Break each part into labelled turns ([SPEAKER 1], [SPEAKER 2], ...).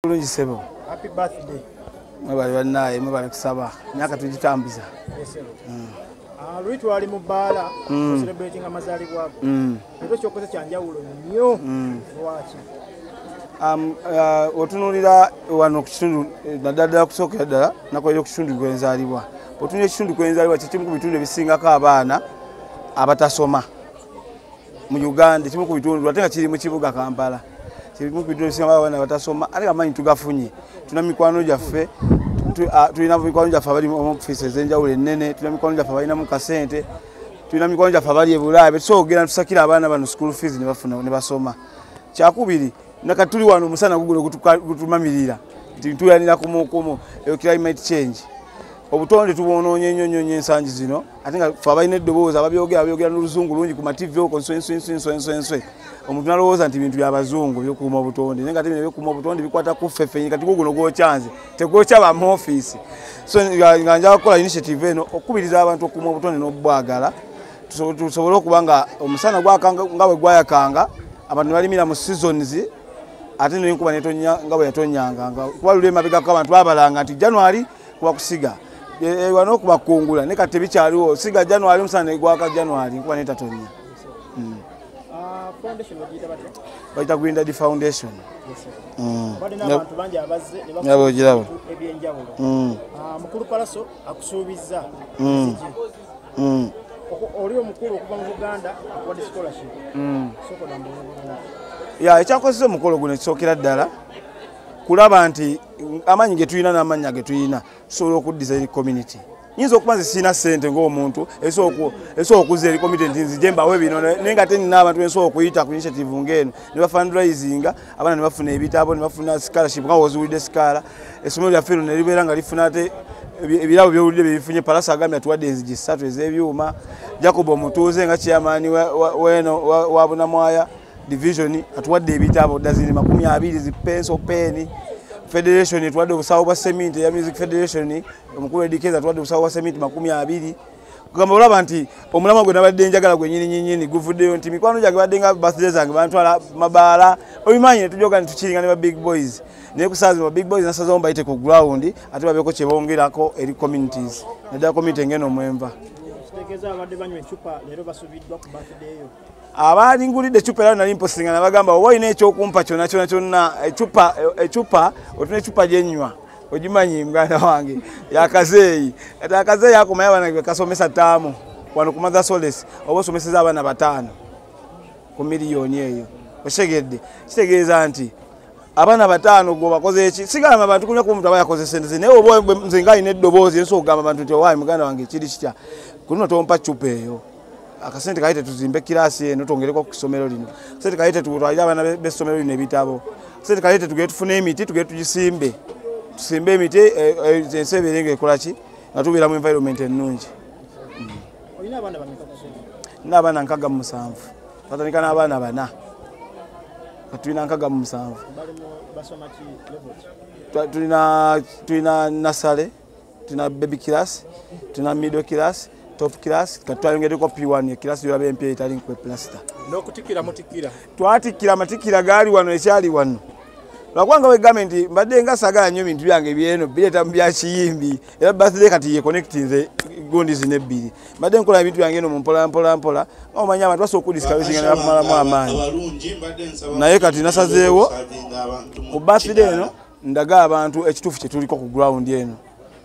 [SPEAKER 1] bulungi sebo
[SPEAKER 2] mwebali
[SPEAKER 1] banaye mwebali kusaba myaka tugitambuza mm. ah, luli
[SPEAKER 2] twali mu bbaala mm. celebrating amazalibwago mm. ekyo kyokoze kyanjawulo nnyo lwaki
[SPEAKER 1] um, uh, otunulira wano kukitundu eh, naddala ddala kusookera ddala nakolera okukitundu gwenzalibwa otunulira ekitundu kwenzalibwa kyekimu ku bitundu ebisingako abaana abatasoma mu uganda kimu ku bitundu ate nga kiri mu kibuga kampala kirimu ku bitundu ebisinga abaana batasoma ate amaanyi tugafunye tulina mikwano gyaffe tulina mikwano gyaffe abali mu ofiisi ez'enjawulo ennene tulina mikwano gyaffe abalinamu kasente tulina mikwano gyaffe abali ebulaaya betusobola okugenda netusakira abaana bano school fees nebafuna ne basoma kyakubiri nakati tuli wano omusana gugulo gutumamirira nti ntuyanira kumukumu eyo climate change obutonde tubwonoonye nnyo nnyo nnyo ensangi zino ate nga fe abalina eddoboozi ababyogera abyogera noluzungu lungi ku mativi oko nswenswenswenswenswe omuntu nalowooza nti bintu byabazungu byokuuma obutonde naye nga te bino byokuuma obutonde bikwata kuffe fenyi kati guguno gwokyanze tegwokya ba muofiisi so nga nja kukola initiative eno okukubiriza abantu okuuma obutonde n'obubwagala tusobole okuba nga omusana nga bwe gwayakanga abantu nebalimira mu seasons ate nenkuba netonya nga bwe yatonyanga kuba luli emabegako abantu babalanga nti january kuba kusiga ewa nokuba kungula ne kati bikyaliwo siga january musana egwaka january nkuba netatonya hmm. ah,
[SPEAKER 2] bayita grindad
[SPEAKER 1] foundation hmm.
[SPEAKER 2] nabogirabo hmm.
[SPEAKER 1] ah,
[SPEAKER 2] mukulu palaso akusuubizza oli omukulu okuva mu buganda akuwadde scholarship ya ekyakozesa omukolo
[SPEAKER 1] guno ekisookera ddala kulaba nti amaanyi ge tulina n'amannya ge tulina tusobola okuddiza eri community nyinza okuba nze sirina ssente ng'omuntu esobola okuza eri community nti nzije mbawe bino naye nga tenina abantu bensobola okuyita ku initiative ng'eno ne bafandrisinga abaana ne bafuna ebitabo ne bafuna scholarship nga woziwulidde sikaala essomero lyaffe lino ne libeera nga lifuna ate ebirabo byowulidde byebifunye palasa agambye atuwadde enzigi ssatu ez'ebyuma jacob omutuuze nga chairmani wabunamwaya division atuwadde ebitabo dazini makumi abiri zi pencil pen federation etuwadde obusawo bwa cement ya music federation omukulu edikeza atuwadde obusawo bwa cement makumi abiri kugamba olaba nti omulamwa gwe nabadde njagala gwe nyini nyini guvuddeyo nti mikwano gyange badde nga birthday zange bantwala mabaala obimanyi ne tujoga nti tukiringa ne ba big boys naye kusaazi ba big boys nasazawo mbayite ku ground ate babeeko kye bongerako eri communities naddala community ngeno omwenva
[SPEAKER 2] abaali ngulidde
[SPEAKER 1] ecupa era nali mposinga nabagamba oba olina ekyokumpa kyona kyona kyonna ecupa ecupa otuna ecupa gyenywa ogimanyi muganda wange yakazeeyi kati akazeeyi akomayo abaana gwe kasomesa taamu wano ku mother solis oba osomeseza abaana bataano ku miliyoni eyo okitegedde kitegeeza nti abaana bataano gwe obakoze eki sigamba bantu kunya kuba omuntu aba yakoze sente ze naye oba nze nga alina eddoboozi ensi okugamba bantu nti owaayi muganda wange kiri kitya kuno tompa cupa eyo akasente kaite tuzimbe kirasi eno twongereko ku kisomero lino sente kaite tutwalire abaana b'essomero lino ebitabo sente kaite tugere tufune emiti tugere tugisimbe tusimbe emiti eh, eh, ensi ebeere nga ekola ki nga tubeera mu environment ennungi
[SPEAKER 2] nina abaana nkaga
[SPEAKER 1] mumusanvu batandika n'abaana bana tulina nkaga mumusanvu tulina nasale tuna baby class tuna middle class top class kati twayongeddeko p1 ekirasi yolaba empya etali nkwe plasta n'okutikira mutikira
[SPEAKER 2] twatikira amatikira
[SPEAKER 1] gaali wano ekyali wano lwakwanga wegambe nti mbadde nga sagala nnyo ebintu byange byeno bireeta mu byakiyimbi era birthday kati yeconnectinze gundi zino ebbiri mbadde nkola ebintu byange eno mumpola mpola mpola nga omanya abantu basobola okudiskalusinga nebakumalamu amaanyi naye kati nasazeewo ku birthday eno ndaga abantu ekituufu kyetuliko ku ground eno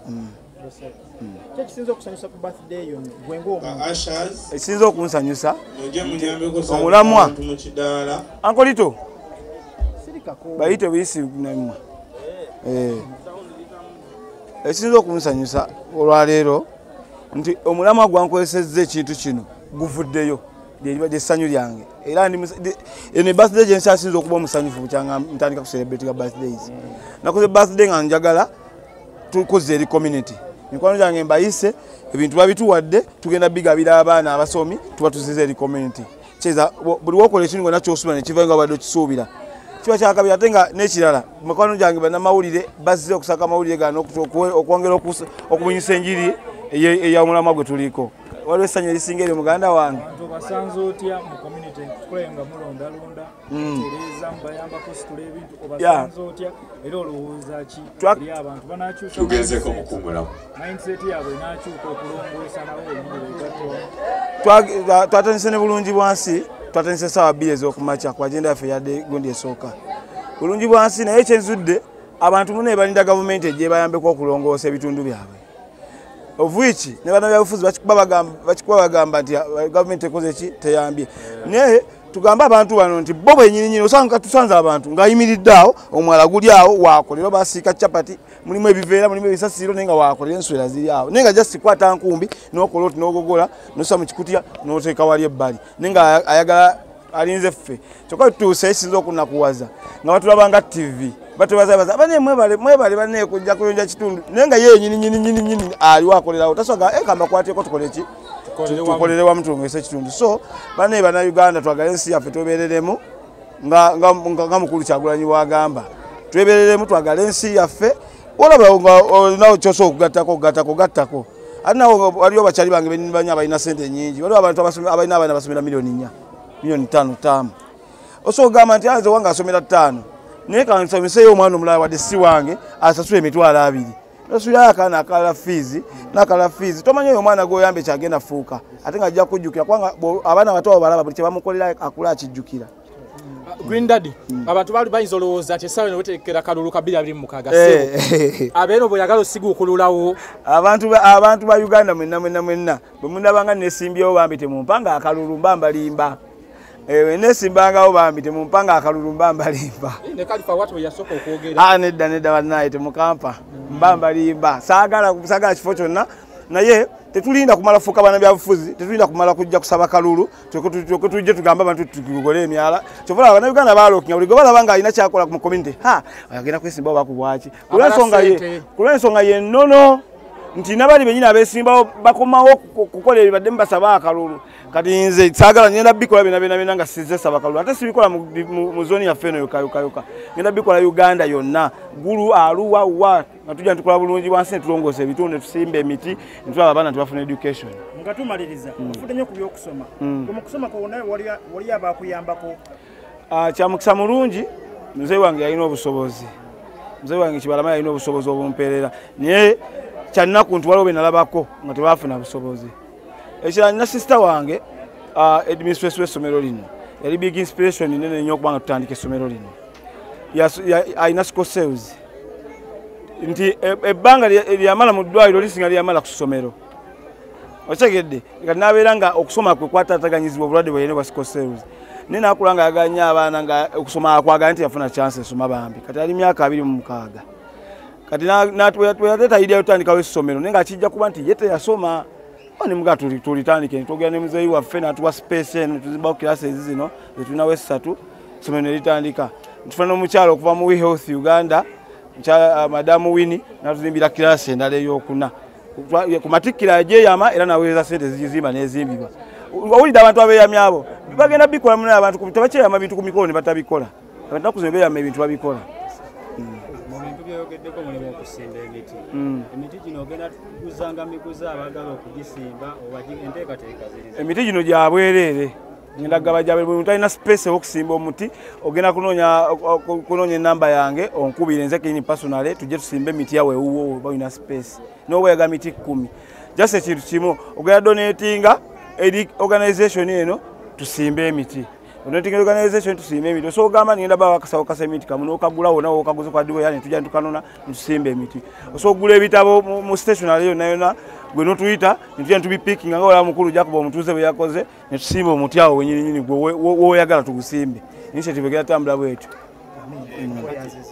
[SPEAKER 1] mm. Mm.
[SPEAKER 2] ekisinza
[SPEAKER 1] okunsanyusa omulamwa ankolito bayite buyisi namwe eh. ekisinza okunsanyusa olwaleero nti omulamwa gwankozesezza ekintu kino guvuddeyo lyeribadde essanyu lyange era eno ebirthday gyensi asinza okuba omusanyufu bukyanga ntandika kuserebetinga birthdays mm. nakoze birthday nga njagala tukoze eri community mikwano gyange mbayise ebintu babituwadde tugenda bigabira abaana abasomi tuba tuziza eri community kyeza buli wokola ekintu gona kyosuubira nekiva nga obadde okisuubira kiba kyakabiri ate nga nekirala mikwano gyange banamawulire bazze okusaka amawulire gano okwongera okubunyisa enjiri eyamulamwa gwe
[SPEAKER 2] tuliiko
[SPEAKER 1] waliwo essanyu erisinga eryo muganda wange obasanze otya
[SPEAKER 2] mu
[SPEAKER 1] community
[SPEAKER 2] tukulaba nga mulondalonda hmm. tereeza mubayambako situla ebintu obasanze otya era olowooza ki eri abantu banakyusa tugezeko mukungulamu
[SPEAKER 3] mindset yaabwe
[SPEAKER 2] enakyuka okulongoosa nawo omuliretwatwa
[SPEAKER 1] twatandise ne bulungi bwansi twatandise esaawa bbiri ez'okumakya ku agenda yaffe yadde gundi esooka bulungi bwansi naye kyenzudde abantu muna ebalinda gavumenti egyebayambeko okulongoosa ebitundu byabwe of which ne bana byabufuzi bakikuba bagamba bakikuba bagamba nti uh, government ekoze ki teyambye naye tugamba abantu bano nti bo bwenyini nyini osanga tusanze abantu ngayimiridde awo omwala guli awo wakolera basiika chapati mulimu ebiveera mulimu ebisasiro naye nga wakolera enswera ziri awo naye nga just kwata nkumbi nokola oti nogogola nosa mu kikutya noteeka wali ebbali naye nga ayagala alinze ffe kyokka tutuuse ekisinza okunakuwaza nga batulabanga ttivi batubazabaza abane mwebale mwebale bane kujja kuyonja kitundu naye nga yeye nyini nyini nyini nyini aliwa akolera awo tasoga e eh, kamba kwateko tukole ki tukolere wa mtu ngese kitundu so bane bana Uganda twagale nsi yafe tubereremu nga nga nga mukulu kyagulanyi wagamba tubereremu twagale nsi yafe olaba olinawo kyosobola okugattako okugattako gattako ate nawe waliwo bakyali bange banibanyo abalina sente nyingi waliwo abantu abalina abaana basomera miliyoni nya miliyoni tano taamu osobola okugamba nti anze wange asomera ttaano naye kansomeseyo omwana omulala wadde si wange asasula emitwalo abiri nosulayo akaana akala fiizi nakala fiizi tomanyi oyo omwana gwoyamba ekyagenda fuuka ate nga ajja kujjukira kubanga abaana abato abo balaba buli kyebamukolera akula akijjukira green
[SPEAKER 4] daddy mm. abantu bali bayinza olowooza ti esawa nowetekera kalulu kabiri abiri mukaga eh. sebo abeeno bweyagala osiga okululawo abantu
[SPEAKER 1] ba uganda mwenna mwenna mwenna bwemunabanga nesimbyewo bambi temumpanga akalulu mba mbalimba ewe eh, nesimbangawo bambi temumpanga akalulu mba mbalimba eh, ah, nedda nedda banaye temukampa mm. mba mbalimba sagala kifo kyonna naye tetulinda kumala fuuka bana byabufuzi tetulinda kumala kujja kusaba kalulu kyoke tujje tugambe abantu tugole emyala kyova laba banauganda balokinga buli gwebalaba nga alina kyakola mu community ha agenda kwesimbawo bakubwaki kulwensonga yenono nti nabali benyina abesimbawo bakomawo kukola ebibadde mubasaba akalulu kati nze sagala ngenda bikola binabenabena nga sizesaba kalulu ate sibikola mu zoni yaffe eno yokayokayoka ngenda bikola uganda yonna gulu aluwa wa nga tujja nitukola bulungi bwansi netulongoosa ebitundu netusimba emiti netulaba abaana tebafuna education nga tumaliriza
[SPEAKER 2] mm. ofudde nyo ku byokusoma mm. mukusoma kwona wali abakuyambako ah,
[SPEAKER 1] kyamukisa mulungi mzee wange yalina obusobozi mzee wange kibalama yalina obusobozi obumpeerera naye kyannaku nti waliwo benalabako nga tebafuna busobozi ekirala nina sisita wange ah, administration w'essomero lino yali big inspiration nene nyo okubanga tutandika essomero lino alina sco sales nti e, ebbanga lyamala mu ddwaliro lisinga lyamala ku ssomero okitegedde kati nabeera nga okusoma kwe kwatataganyizibwa obulwadde bweyene bwa sco sales naye nakula nga yaganya abaana nga okusoma akwagala nti yafuna chance esoma bambi kati ali myaka abiri mu mukaaga kati natweyatetayidia tutandikawo essomero naye nga kijja kuba nti ye teyasoma nemuga tulitandike twogera ne muzeeyi waffe natuwa space eno tuzimbawo kirasi ezi zino zetulinawo essatu essomero ne litandika ntufuna n'omukyala okuva mu wehealth uganda uh, madamu wini natuzimbira kirasi endala eyokuna ku matikkiro ajeyama era naweereza sente zigizimba nezimbibwa owulidde abantu abeyami abo bagenda bikola munaye abantu tebakyeyama bintu ku mikolo ne batabikola abantu nakuzima beyama ebintu babikola byoyogeddeko
[SPEAKER 5] mulimu okusimba emiti hmm. emiti gino ogenda kuguzanga miguza abagala okugisimba oba enteekateeka ziri emiti gino gyabwereere
[SPEAKER 1] ngenda gaba gya buli muntu alina space ew'okusimba omuti ogenda kunoonya kunoonya enamba yange onkubire nze kenyini personale tujje tusimbe emiti yawe ewuwo oba olina space n'oweyaga miti kkumi just ekintu kimu ogenda donatinga eri organization eno tusimbe emiti onotinga organization tusimbe emiti osobola ogamba nigenda baba akasawo kasa emiti kamu n'okagula wona wokaguze kwa diwa yani tujja nitukanona nitusimba emiti osobola okugula ebitabo mu stationary yonna yonna gwe notuyita nitugenda tubipickinga nga olaba mukulu jakuba omutuuze bwe yakoze netusimba omuti awo wenyininyini gwe woyagala tugusimbe initiative egenda tambula bwetyo